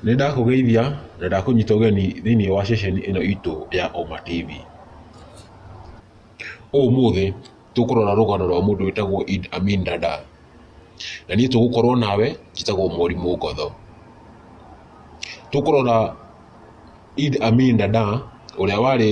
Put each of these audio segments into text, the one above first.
Nĩ ndakũgeithia na ndakũnyita ũgeni thĩinĩ wa ceceni ĩno itũ ya Oma TV. Ũmũthĩ tũkũrora rũgano rwa mũndũ wĩtagwo Idd Amin Dada. Na niĩ tũgũkorwo nawe njĩtagwo Mwarimũ Ngotho. Tũkũrora Idd Amin Dada ũrĩa warĩ...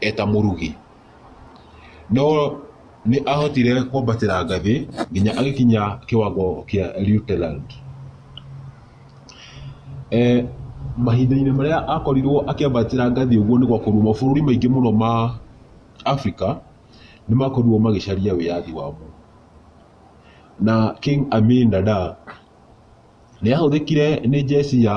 eta mũrugi. No nĩ ahotire kwambatĩra ngathĩ nginya agĩkinya kĩwango kĩa Lieutenant. Mahinda-inĩ marĩa akorirwo akĩambatĩra ngathĩ ũguo nĩ gwakorirwo mabũrũri maingĩ mũno ma Africa nĩ makorirwo magĩcaria wĩyathi wamo. Na King Amin Dada nĩ ahũthĩkire nĩ njeci ya...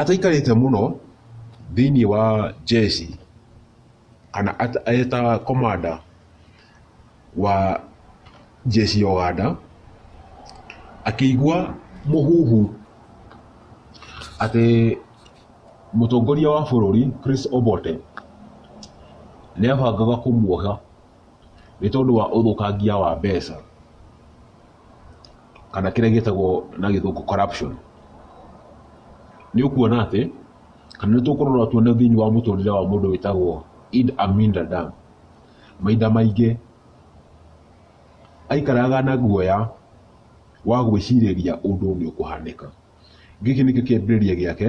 Ataikarĩte mũno thĩinĩ wa njeshi kana arĩ ta komanda wa njeshi ya Ũganda, akĩigua mũhuhu atĩ mũtongoria wa bũrũri Chris Obote nĩ abangaga kũmuoha nĩ tondũ wa ũthũkangia wa mbeca. kana kĩrĩa gĩtagwo na gĩthũngũ corruption. Nĩ ũkuona atĩ, kana nĩ tũkũrora tuone thĩiniĩ wa mũtũrĩre wa mũndũ wĩtagwo Eid Amin Dada, mahinda maingĩ aikaraga na guoya wa gwĩcirĩria ũndũ nĩ ũkũhanĩka. Gĩkĩ nĩkĩo kĩambĩrĩria gĩake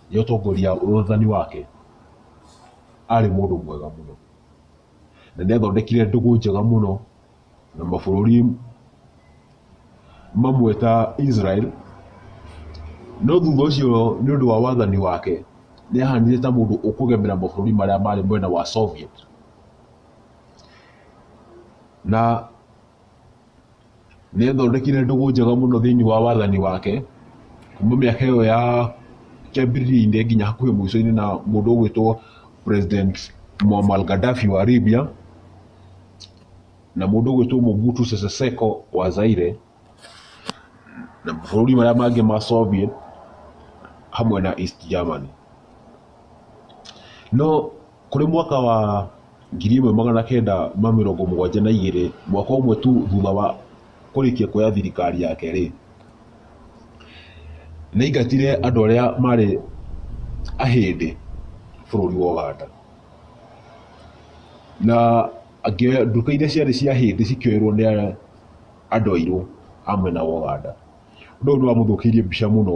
Nĩ ũtongoria wathani wake arĩ mũndũ mwega mũno. Na nĩ athondekire ndũgũ njega mũno na mabũrũri mamwe ta Israel. No thutha ũcio nĩ ũndũ wa wathani wake nĩ ahanire ta mũndũ ũkũgemera mabũrũri marĩa marĩ mwena wa Soviet. Na... nĩ athondekire ndũgũ njega mũno thĩinĩ wa wathani wake kuma mĩaka ĩyo ya kĩambĩrĩria-inĩ nginya hakuhĩ mũico-inĩ na mũndũ ũgwĩtwo president Muammar Gaddafi wa Libya na mũndũ ũgwĩtwo Mobutu Sese Seko wa Zaire na mabũrũri marĩa mangĩ ma Soviet hamwe na East Germany no Kũrĩ mwaka wa 1972, mwaka ũmwe tu thutha wa kũrĩkia kuoya thirikari yake-rĩ, nĩ aingatire andũ arĩa marĩ Ahĩndĩ bũrũri wa Ũganda. Na akĩoya nduka iria ciarĩ cia Ahĩndĩ cikĩoerwo nĩ andũ airũ a mwena wa Ũganda. Ũndũ ũyũ nĩ wamũthũkĩirie mbica mũno.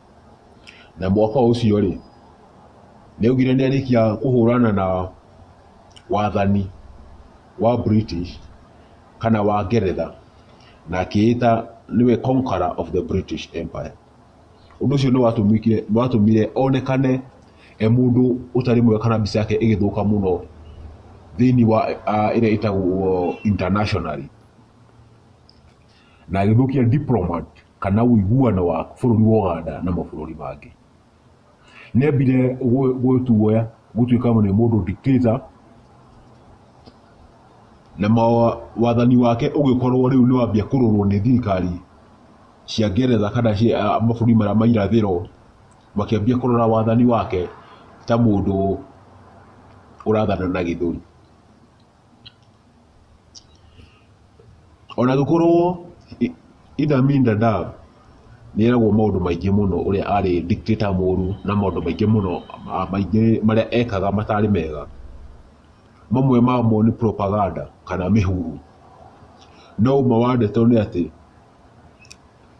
na mwaka ũcio rĩ nĩ augire nĩ arĩkia kũhũrana na wathani wa British kana wa Ngeretha na akĩĩta nĩwe conqueror of the British Empire. Ũndũ ũcio nĩ watũmĩkire nĩ watũmire onekane e mũndũ ũtarĩ mwega kana mbica yake ĩgĩthũka mũno thĩinĩ wa ah, ĩrĩa ĩtagwo internationally na agĩthũkia diplomat kana ũiguano wa bũrũri wa Ũganda na mabũrũri mangĩ. Nĩambire gwĩtuoya gũtuĩka nĩ mũndũ dictator na wathani wake ũgĩkorwo rĩu nĩwambia kũrorwo nĩ thirikari cia Ngeretha kana mabũrũri marĩa ma irathĩro makĩambia kũrora wathani wake ta mũndũ ũrathana na gĩthũri. Ona gũkorwo Idd Amin Dadaab nĩ eragwo maũndũ maingĩ mũno ũrĩa arĩ dictator mũru na maũndũ maingĩ mũno maingĩ marĩa ekaga matarĩ mega, mamwe mamo nĩ propaganda kana mĩhuhu. No ũma wa ndeto nĩ atĩ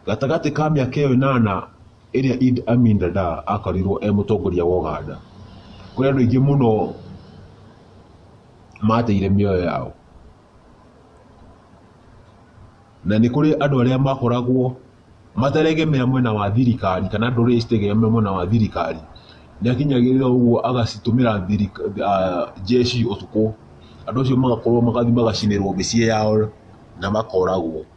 Gatagatĩ ka mĩaka ĩyo ĩnana ĩrĩa Idi Amin Dada akorirwo e mũtongoria wa Ũganda, kũrĩ andũ aingĩ mũno mateire mĩoyo yao. Na nĩ kũrĩ andũ arĩa makoragwo materegemea mwena wa thirikari kana ndũrĩrĩ citegemea mwena wa thirikari, nĩ akinyagĩrĩra ũguo agacitũmĩra njeci ũtukũ, andũ acio magakorwo magathiĩ magacinĩrwo mĩciĩ yao na makoragwo.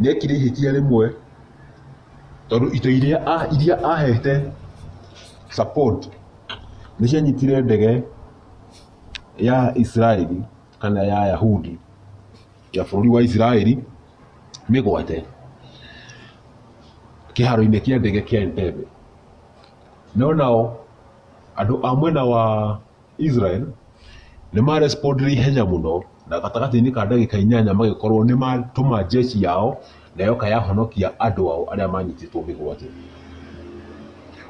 nĩ ekire ihĩtia rĩmwe tondũ indo iria a- iria ahete support nĩ cianyitire ndege ya Israeli kana ya Yahudi ya bũrũri wa Israeli mĩgwate kĩharo-inĩ kĩa ndege kĩa Entebbe no nao andũ a mwena wa Israel nĩ ma respondire ihenya mũno na gatagatĩ-inĩ ka ndagĩka inyanya magĩkorwo nĩ matũma jeshi yao na yoka yahonokia andũ ao arĩa manyitĩtwo mĩgwate.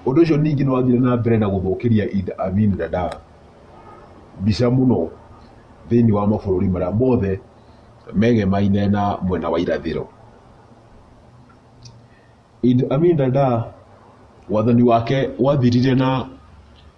Ũndũ ũcio ningĩ nĩ wathire na mbere na gũthũkĩria Idi Amin Dada mbica mũno thĩinĩ wa mabũrũri marĩa mothe megemaine na mwena wa irathĩro. Idi Amin Dada wathani wake wathirire na...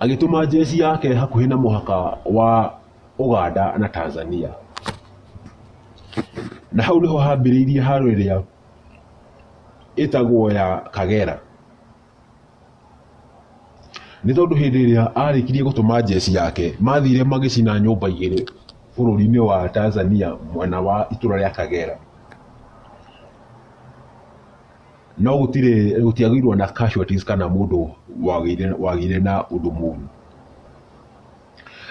agĩtũma njeci yake hakuhĩ na mũhaka wa Ũganda na Tanzania. Na hau nĩho hambĩrĩirie haro ĩrĩa ĩtagwo ya Kagera. Nĩ tondũ hĩndĩ ĩrĩa arĩkirie gũtũma njeci yake, mathire magĩcina nyũmba igĩrĩ bũrũri-inĩ wa Tanzania mwena wa itũra rĩa Kagera. no gũtirĩ gũtiagĩirwo na casualties kana mũndũ wagĩire wagĩire na ũndũ mũru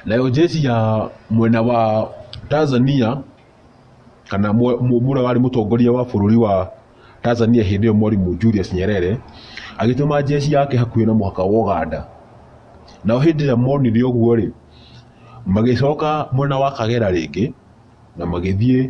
nayo jeshi ya mwena wa Tanzania kana mwe- mwe- mũrĩa warĩ mũtongoria wa bũrũri wa Tanzania hĩndĩ ĩyo mwarimũ Julius Nyerere agĩtũma jeshi yake hakuhĩ na mũhaka wa Uganda nao hĩndĩ ĩrĩa monire ũguo rĩ magĩcoka mwena wa Kagera rĩngĩ na magĩthiĩ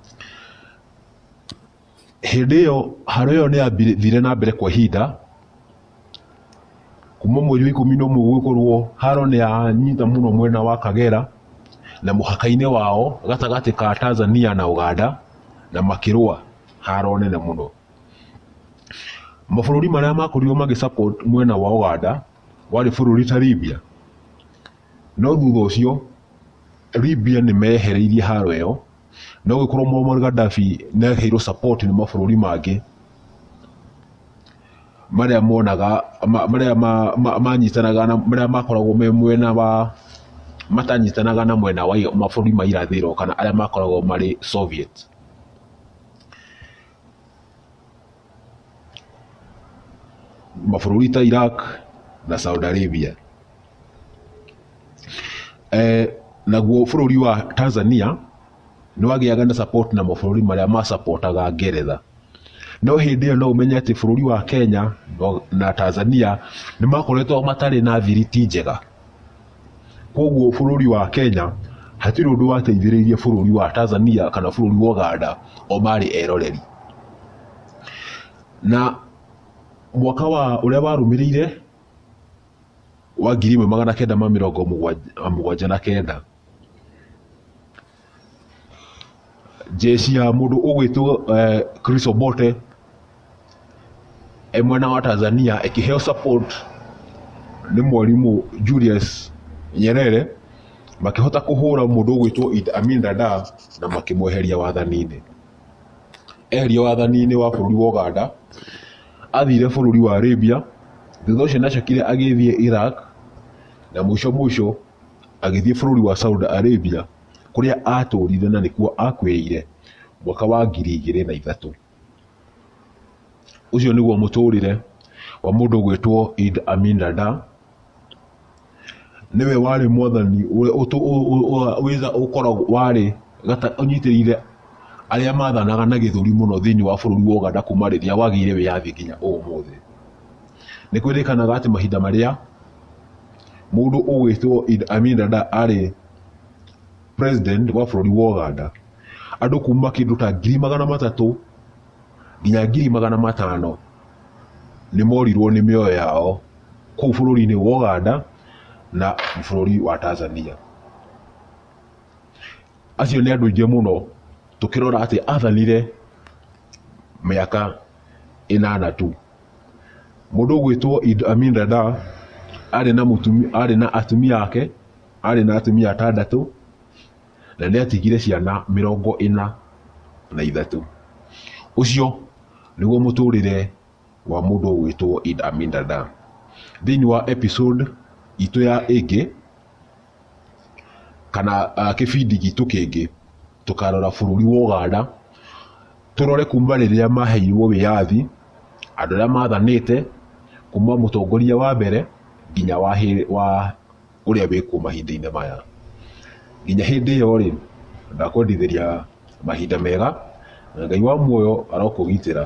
Hĩndĩ ĩyo haro ĩyo nĩyathire na mbere kwa ihinda, kuma mweri wa ikũmi na ũmwe gũgĩkorwo haro nĩyanyita mũno mwena wa Kagera na mũhaka-inĩ wao gatagatĩ ka Tanzania na Ũganda na makĩrũa haro nene mũno. Mabũrũri marĩa makorirwo magĩ support mwena wa Ũganda warĩ bũrũri ta Libya, no thutha ũcio Libya nĩmeyehereirie haro ĩyo. no gĩkorwo Muammar Gaddafi nĩ aheirwo support nĩ mabũrũri mangĩ marĩa monaga ma- marĩa ma- ma- manyitanaga na marĩa makoragwo me mwena wa matanyitanaga na mwena wa mabũrũri ma irathĩro kana arĩa makoragwo marĩ Soviet mabũrũri ta Iraq na Saudi Arabia eh, naguo bũrũri wa Tanzania nĩ wagĩaga na support na mabũrũri marĩa masapotaga ngeretha no hĩndĩ ĩyo no ũmenye atĩ bũrũri wa Kenya no- na Tanzania nĩ makoretwo matarĩ na thiriti njega koguo bũrũri wa Kenya hatirĩ ũndũ wateithĩrĩirie bũrũri wa Tanzania kana bũrũri wa Uganda o marĩ eroreri na mwaka wa ũrĩa warũmĩrĩire wa ngiri ĩmwe magana kenda ma mĩrongo mũgwanja- mũgwanja na kenda jeshi ya mũndũ ũgwĩtwo eh, Chris Obote eh, mwena wa Tanzania ĩkĩheo support nĩ mwarimũ Julius Nyerere makĩhota kũhũra mũndũ ũgwĩtwo Idi Amin Dada na makĩmweheria wathani-inĩ eherio wathani-inĩ wa bũrũri wa Ũganda, athire bũrũri wa Arabia, thutha ũcio nacokire agĩthiĩ Iraq, na mũico mũico agĩthiĩ bũrũri wa Saudi Arabia, kũrĩa atũrire na nĩkuo akuĩire mwaka wa ngiri igĩrĩ na ithatũ. Ũcio nĩguo mũtũrĩre wa mũndũ ũgwĩtwo Idd Amin Dada. nĩwe warĩ mwathani ũrĩa ũtũ- ũ- ũ- ũ- wĩtha- ũkoragwo warĩ gata- ũnyitĩrĩire arĩa mathanaga na gĩthũri mũno thĩinĩ wa bũrũri wa Uganda kuma rĩrĩa wagĩire wĩyathi nginya ũmũthĩ nĩ kwĩrĩkanaga atĩ mahinda marĩa mũndũ ũgwĩtwo Idi Amin Dada arĩ president wa bũrũri wa Uganda andũ kuma kĩndũ ta ngiri magana matatũ nginya ngiri magana matano nĩ morirwo nĩ mĩoyo yao kũu bũrũri-inĩ wa Ũganda na bũrũri wa Tanzania. Acio nĩ andũ aingĩ mũno tũkĩrora atĩ athanire mĩaka ĩnana tu. Mũndũ ũgwĩtwo Idi Amin Dada arĩ na mũtumia, arĩ na atumia ake, arĩ na atumia atandatũ. na nĩ atigire ciana mĩrongo ĩna na ithatũ. Ũcio nĩguo mũtũrĩre wa mũndũ ũgwĩtwo Id Amin Dada. Thĩinĩ wa episode itũ ya ĩngĩ kana kĩbindi gitũ kĩngĩ tũkarora bũrũri wa Ũganda tũrore kuma rĩrĩa maheirwo wĩyathi, andũ arĩa mathanĩte kuma mũtongoria wa mbere nginya wa ũrĩa wĩkuo mahinda-inĩ maya. Nginya hĩndĩ ĩyo rĩ, ndakwendithĩria mahinda mega, na Ngai wa muoyo arokũgitĩra.